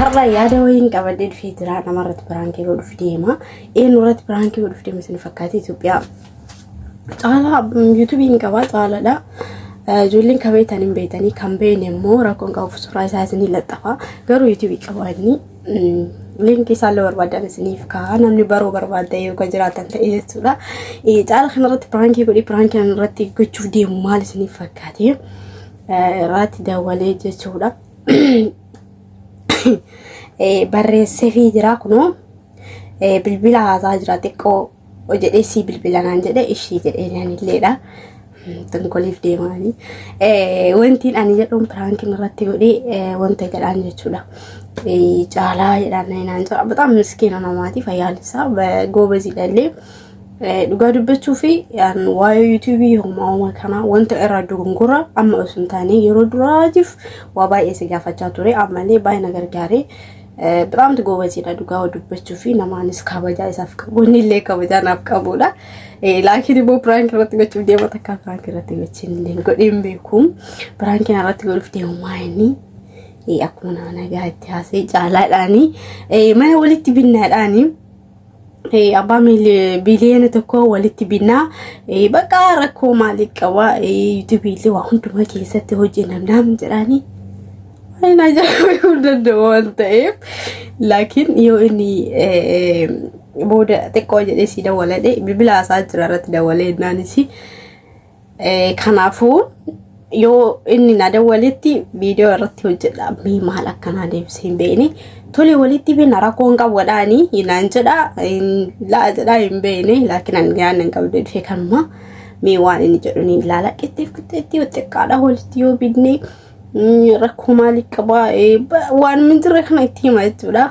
har'a yaada wayiin qabadee dhufee jira namarratti biraankii yoo dhufu deema eenyurratti biraankii yoo dhufu deema isin fakkaate Itoophiyaa caalaa yuutuubii hin qabaa caalaadha. Ijoolleen kan beektan hin beektanii kan beekne immoo rakkoon qabu suuraa isaa isin laxxafa garuu yuutuubii qabaa inni Linkii isaallee barbaadan isiniif kaa'aa namni baruu barbaadda yoo kan jiraatan ta'e jechuudha. Caala kanarratti piraankii godhi piraankii irratti gochuuf deemu maal isiniif fakkaate irratti daawwalee jechuudha. Barreessee fi jira kunoo bilbila haasaa jira xiqqoo. jedhee sii bilbila naan jedhe ishii jedhee naan illeedha. Tonkoliif deemaanii. Wantiin ani jedhuun piraankiin irratti godhee wanta jedhaan jechuudha. Caalaa jedhaan naan jedha. Bataam miskiina namaati fayyaan isaa goobaziidha illee. Dhugaa dubbachuu fi waa'ee yuutuubii homaa homaa kanaa wanta irraa dogongora amma osoo hin taane yeroo duraatiif waa baay'ee si gaafachaa ture ammallee baay'ee na gargaaree. Biraamti goobaziidha dhugaa dubbachuu fi namaanis kabajaa isaaf qabu inni illee kabajaa naaf qabudha. Laakiin immoo piraanki irratti gochuuf deema takka piraanki irratti gochuun illee godheen beeku. Piraanki irratti godhuuf deemu maayini akkuma nama nagaa itti haasee caalaadhaani mana walitti binnaadhaani. abbaa biliyoona tokko walitti binnaa bakka rakkoo maaliif qaba yuutubiillee waa hundumaa keessatti hojii namnaam jedhaanii hin ajaa'ibu danda'u waan ta'eef laakiin yoo inni booda xiqqoo jedhee si dawwaladhe bilbila haasaa jira irratti dawwalee innaanis Eh, Kanaafuu yoo inni na dawwaletti viidiyoo irratti hojjedha mee maal akkanaa deebisee hin beekne tole walitti beena rakkoo hin qabu jedhaani naan jedha hin la'a jedhaa hin beekne laakiin ani yaadna hin qabdu dhufee kanuma mee waan inni jedhu ni ilaala qixxeef qixxeetti yoo xiqqaadha walitti yoo bidne mm, rakkoo maalii qabaa eh, ba- waan min jirre kana itti hima jechuudha.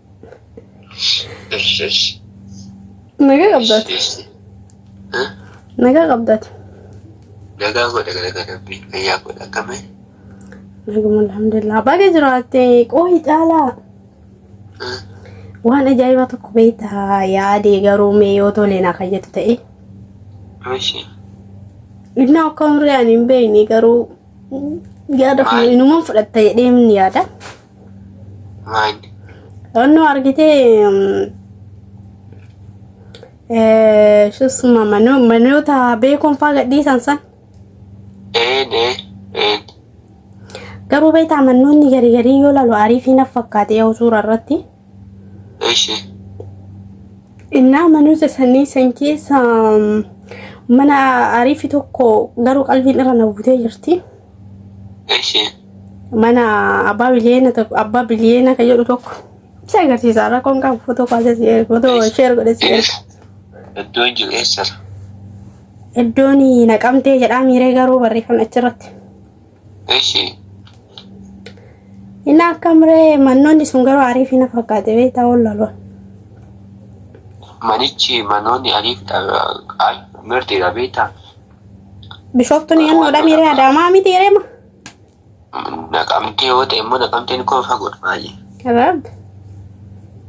Eshi eshi. Nagaa qabdaati. Eshi. Ha? Nagaa qabdaati. Nagaa godha gara gara rabbii. Fayyaa godha akkame. Naguma alhamdulillah. Baga jiraatte qoohi caalaa. Ha? Waan ajaa'ibaa tokko beektaa yaadee garuu mee yoo tole na kayyatu ta'e. Eshi. Inni akka umrii ani hin beekne garuu yaada kun inumaan fudhatta jedhee ni yaada. Maal? Onnoo argitee shusuma manoota beekoon faa gadhiisan san Een ee een. garuu beektaa mannoonni garii garii yoo lalu ariifii naf fakkaate yoo suura irratti. Eshi. Innaa manoota sanii san keessa mm, mana ariifi tokko garuu qalbiin irra na butee jirti. Eshi. Mana abbaa biliyeena tokko abbaa biliyeena kan jedhu tokko si agarsiisa rakkoon qabu footoo kaasee si erga footoo sheer godhee si erga. Iddoo hin jiru eessa? Iddoon naqamtee jedhaa miiree garuu barreeffamni achirratti. Eshi. Inni akka muree mannoonni sun garuu ariif hin fakkaate beektaa ol laloon. Manichi manoonni ariif ay mirtiidha beektaa. Bishooftuun yannoo dhamiree adaamaa miti reema. Naqamtee yoo ta'e immoo naqamteen koo fagoodha baay'ee. Rabb.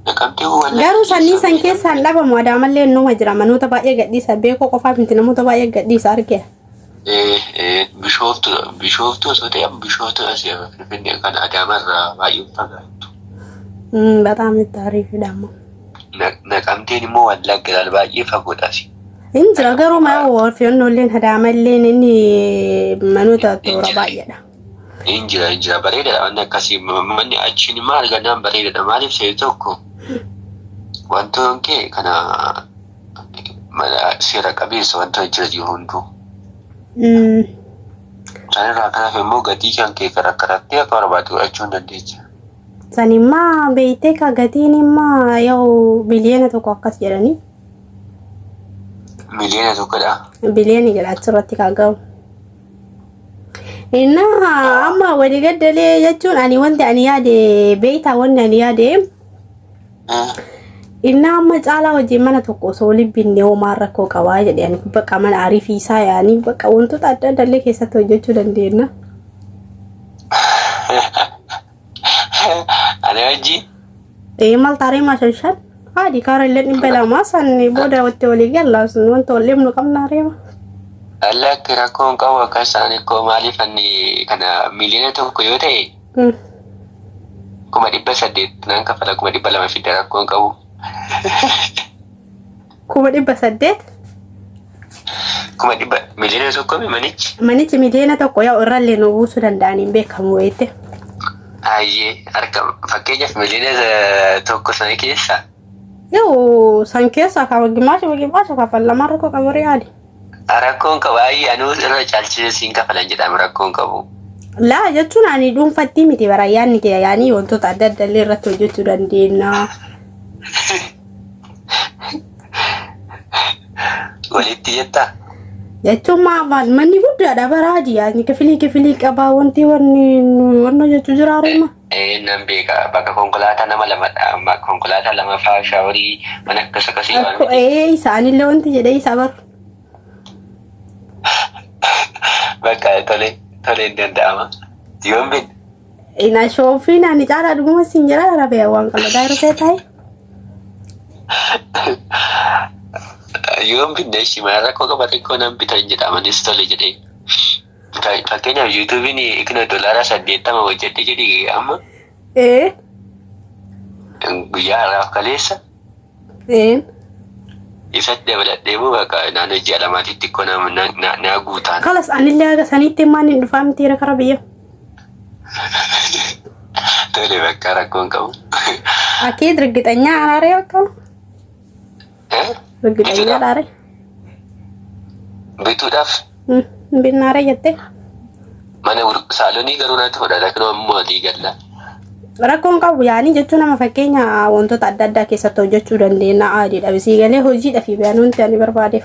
Naqamtee koo wallaahi. Garuu sannii san keessaan dhabamu adaamallee numa jira manoota baay'ee gadhiisa beekoo qofaaf miti namoota baay'ee gadhiisa argee. Bishooftu Bishooftu osoo ta'e Bishooftu asii amma Finfinnee kan Adaama irraa baay'ee fagaattu. በጣም ታሪፍ ደግሞ Naqamteen immoo Wallagga irraa baay'ee fagoodha asii. hin jira garuu maa filannoolleen hadaamalleen inni manoota toora baay'eedha. Hin jira hin jira bareedaadha wanni akkasii manni achiin immoo argannaan bareedaadha maaliif ta'e tokko wantoon kee kana mala seera qabeessa wanta jira jiru hunduu. Mm. Isaan irraa kanaaf immoo gatii kan kee kan rakkatattee akka barbaadde godhachuu hin dandeecha. Sanimmaa beektee ka gatiin immaa yoo biliyoona tokko akkas jedhanii Miliyoona tokkodha. biliyoona jedha achirratti ka ga'u. Innaa amma waliigaddalee jechuun ani wanti ani yaade beektaa wanti ani yaade Innaa amma caalaa wajjin mana tokko osoo waliin binnee homaa rakkoo qabaa jedhe ani bakka mana ariifiisaa yaanii bakka wantoota adda addaa illee keessatti hojjechuu dandeenya. Ani wajjin. Ee maal taaree maashan shan? Haadhi kaara illee dhibba lamaa san booda watti walii gallaas wanta wal dhibnu qabnaa reema. Lakki rakkoon qabu akka isaanii koo maaliif anni kana miliyoona tokko yoo ta'e kuma dhibba saddeet nan kafala kuma dhibba lama fidda rakkoo hin qabu. Kuma dhibba saddeet Kuma dhibba miliyoona tokko mi manichi? manichi miliyoona tokko yoo irrallee nu buusuu danda'an hin beekamu wayite. Hayyee harka fakkeenyaaf miliyoona eh, tokko sana keessa Yoo san keessaa kan gimaasha gimaasha kaffalamaa rakkoo qabu riyaali. Rakkoon qabu ayi anuu irra caalchisee siin kafalan jedhamu rakkoon qabu. Laa jechuun ani dhuunfattii miti bara yaanni kee yaanii wantoota adda addaa illee irratti hojjechuu dandeenya. Walitti jettaa? Jechuun maa maal manni guddaadha bara yaadni kifilii kifilii qabaa wanti wanni wanna jechuu jiraa reema. Eeyyeen nan beeka bakka konkolaataa nama lamadha amma konkolaataa lamaffaa shaaworii waan akkas akkasii waan Akkoo miti. ee isaanillee wanti jedhee isaa baru. Bakka tole tole hin danda'ama. Yoon bin Ina shoofii naani caalaa dhuguma siin jira rabee waan qalladaa irra see taa'e. yoon binne ishii mana rakkoo qaba xiqqoo nan bitan jedha amanis tole jedhee. Fakkeenyaaf yuutuubiin ikna doolaara saddeettama hojjedhe jedhi amma Ee. guyyaa har'aaf kaleessa Ee. isatti dabaladhee moo bakka naannoo ji'a lamaatitti xiqqoo na- na- na- naa guutaan. Kalas anillee haga saniitti maan hin dhufaa miti irra kara biyya. Tole bakka rakkoon qabu. Akii dirgixanyaa anaaree bakka. Ergitanya dhaare. Bituudhaaf Hin binnaare jette. mana gurg- saalonii garuu natti fudhata kan ammoo walii galla. Rakkoon qabu yaanii jechuu nama fakkeenya wantoota adda addaa keessatti hojjechuu dandeenya. Aadiidha. Bisii galee hojiidha fi bayanuunti ani barbaadeef.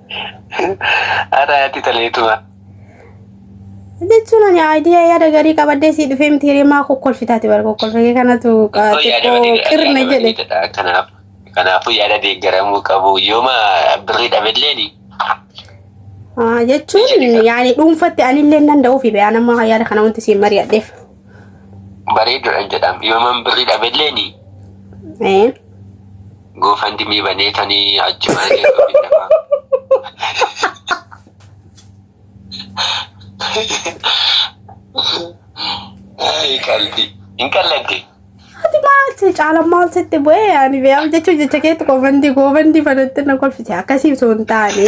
Haadha haati taleetuma. Jechuun ani idea yaada gaarii qabadhee sii dhufee miti hiree maa kokkolfitaati bara kokkolfee kanatu xiqqoo qirna jedhe. Kanaaf kanaafuu yaada deeggaramuu qabu yooma birrii dhabilleen Ah, Jechuun yaani dhuunfatti anillee nan da'uufi be'aa nama yaada kana wanti siin mari'adheef. Bareeduudhaan jedhama. Yooman birri dhabelleeni Ee. goofandimii banee tanii achi mana keessa ofiin dafaa. Ay, qalbi. Hin qalladde. Ati maal si caala maal sitti bu'ee ani beeyaam jechuun jecha keetti goofandii goofandii banatti na kolfite akkasii osoo hin taane.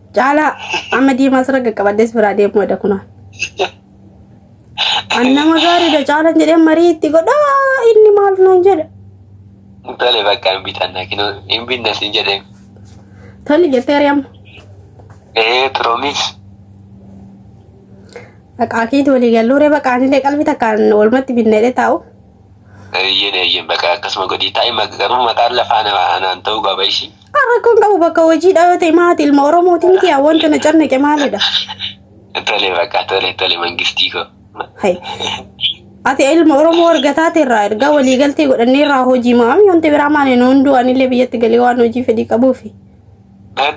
Caalaa amma diimaa sirra qaqqabaddees biraa deemuu edha kunoo. An nama gaariidha caalan jedhee marii itti godhaa inni maal naan jedha. Tole bakka hin bitanna kinoo hin binna siin jedhee. Tole jettee ari'amma. Ee piroomis. Baqaa keeti walii galluuree baqaan illee qalbii takkaan walumatti binneedhee taa'u. Eeyyeen eeyyeen bakka akkasuma godhii taa'ima garuu mataan lafaa nama anaan ta'uu qaba ishii. Rakkoon qabu bakka hojii dhaabate maati ilma Oromooti miti yaa wanta na carnaqe maalidha? Tole bakka tole tole mangistii koo. Hai. Ati ilma Oromoo argataa teerraa ergaa walii galtee godhannee irraa hojii maami wanti biraa maali nu hunduu anillee biyyatti galee waan hojii fedhii qabuufi. Tole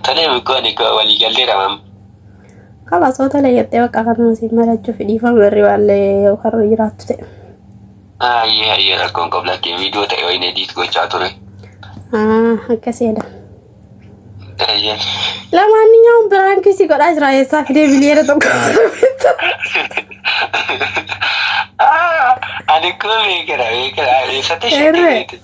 tole bikkoon koo walii galtee dhamam. Kalaas otoo layyaattee bakka kanuma siin marachuuf dhiifama irri baallee yookaan jiraattu ta'e. Hayyee hayyee rakkoon qabu lakkee viidiyoo ta'e wayin ediit gochaa ture. Ah, akkas jedha. Hayyeen. Lamaanniyyaan biraankii si godhaa jira eessaa fidee biliyeera tokko. Ah, Ani kun beekera beekera eessatti Erre. shakkeeti.